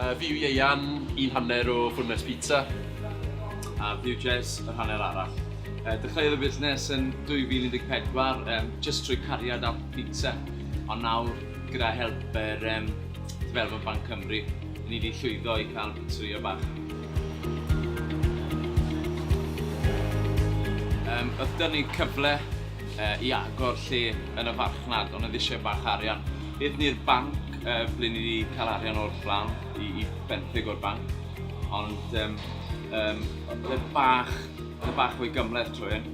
Uh, fi yw Ieian, un hanner o Fwrnes Pizza. A fi yw Jez, yr hanner arall. Uh, dechreuodd y busnes yn 2014, um, just trwy cariad at pizza. Ond nawr, gyda help yr um, Development Bank Cymru, ni wedi llwyddo i cael pizzeria bach. Um, oedd dyn ni cyfle uh, i agor lle yn y farchnad, ond oedd eisiau bach arian. Nid ni'r banc, ble ni 'di cael arian o'r fflam i i benthyg o'r banc, ond yym yym o'dd e bach o'dd e bach fwy gymhleth trwy hyn.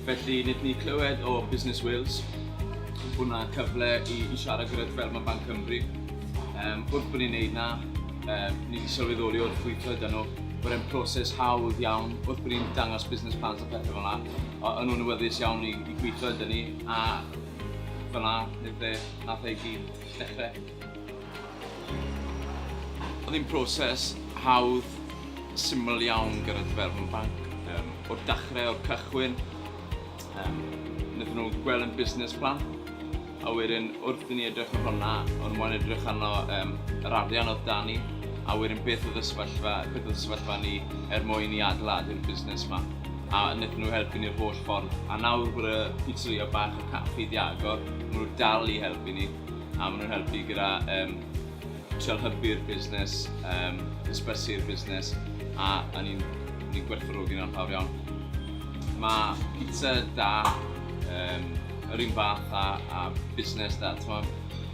Felly nethon ni clywed o Business Wales bo' 'na cyfle i i siarad gyda Development Bank Cymru. Yym wrth bo' ni'n neud 'na yym ni 'di sylweddoli wrth weithio 'da nhw bod e'n proses hawdd iawn wrth bo' ni'n dangos business plans a pethe fel 'na o- o'n nhw'n awyddus iawn i i gweithio 'da ni a Fan'na neu ble nath e i gyd ddechre. O'dd hi'n proses hawdd, syml iawn gyda Dyfeddon Banc. Yym, o'r dachre, o'r cychwyn, yym, nethon nhw gweld yn busnes plan, a wedyn wrth i ni edrych ar hwnna, o'n mo'n edrych arno yym yr arian o'dd 'da ni, a wedyn beth o'dd y sefyllfa, beth o'dd y sefyllfa ni er mwyn i adeiladu'r busnes 'ma. a wnaethon nhw helpu ni'r holl ffordd. A nawr bod y pizzeria bach a caffi di agor, maen nhw dal i helpu ni, a maen nhw'n helpu gyda um, trial hybu'r busnes, um, ysbysu'r busnes, a, a ni'n ni gwerthfawrogi nhw'n fawr iawn. Mae pizza da, um, yr un fath a, a busnes da, ti'n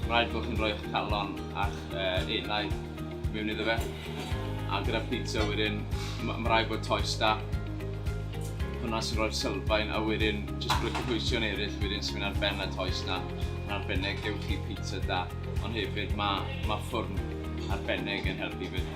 rhaid bod chi'n rhoi'ch calon a'ch uh, enaid mewn iddo fe. A gyda pizza wedyn, mae'n rhaid bod toes da. Hwna sy'n rhoi'r sylfaen a wedyn jyst bod y cynhwysion eraill wedyn sy'n mynd ar ben y toes na. Yn arbennig gewch chi pizza da, ond hefyd mae, mae ffwrn arbennig yn helpu fyd.